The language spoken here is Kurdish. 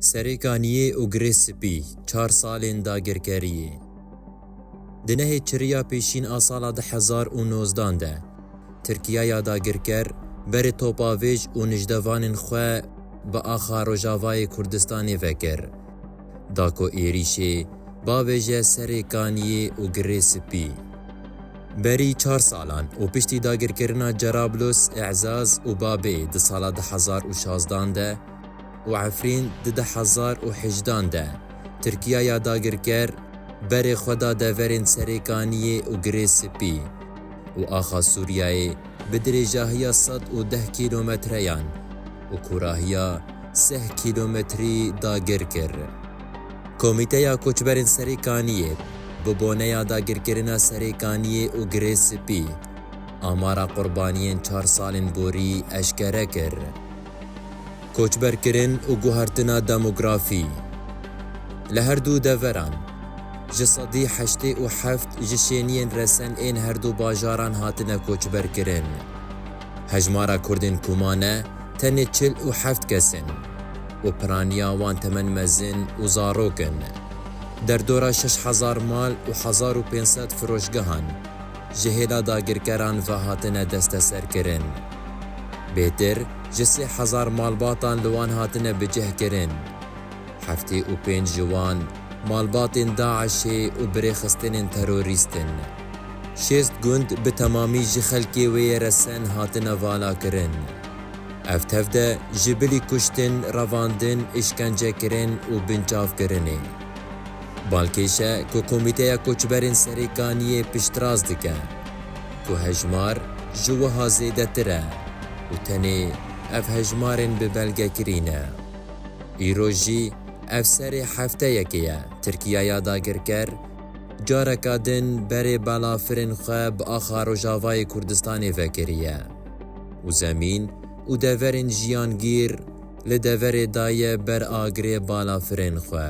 Serê kaniyê û girê spî, çar salên dagirkeriyê. Di nehê çiriya pêşîn a sala du hezar û nozdan de, Tirkiya ya dagirker berê topavêj û nijdevanên xwe bi axa Rojavayê Kurdistanê vekir. Da ku êrîşê bavêje serê kaniyê û girê spî. Berî çar salan û piştî dagirkirina Cerablus, E'zaz û Babê di sala du hezar û şazdan de, û Efrîn di du hezar û hejdan de Tirkiya ya dagirker berê xwe da deverên Serêkaniyê û Girê Spî û axa Sûriyeyê bi dirêjahiya sed û deh kîlometreyan û kûrahiya seh kîlometrî dagir kir. Komîteya Koçberên Serêkaniyê bi boneya dagirkirina Serêkaniyê û Girê Spî amara qurbaniyên çar salên borî eşkere kir. Koçberkirin û guhertina demografî li her du deveran, ji sedî heştê û heft ji şêniyên resen ên her du bajaran hatine koçberkirin. Hejmara Kurdên ku mane tenê çil û heft kes in û piraniya wan temen mezin û zarok in. Derdora şeş hezar mal û hezar û pênc sed firoşgehan ji hêla dagirkeran ve hatine desteserkirin. Bêtir ji sê hezar malbatan li wan hatine bicihkirin. Heftê û pênc ji wan malbatên DAIŞ'ê û birêxistinên terorîst in. Şêst gund bi temamî ji xelkê wê yê re sen hatine valakirin. Ev tev de ji bilî kuştin, revandin, îşkencekirin û binçavkirinê. Balkêş e ku Komîteya Koçberên Serêkaniyê piştrast dike. ku hejmar ji wiha zêdetir e û tenê ev hejmarên bi belgekirî ne. Îro jî ev serê hefteyekê ye Tirkiyaya dagirker careka din berê balafirên xwe bi axa Rojavayê Kurdistanê vekiriye û zemîn û deverên jiyangîr li deverê daye ber agirê balafirên xwe.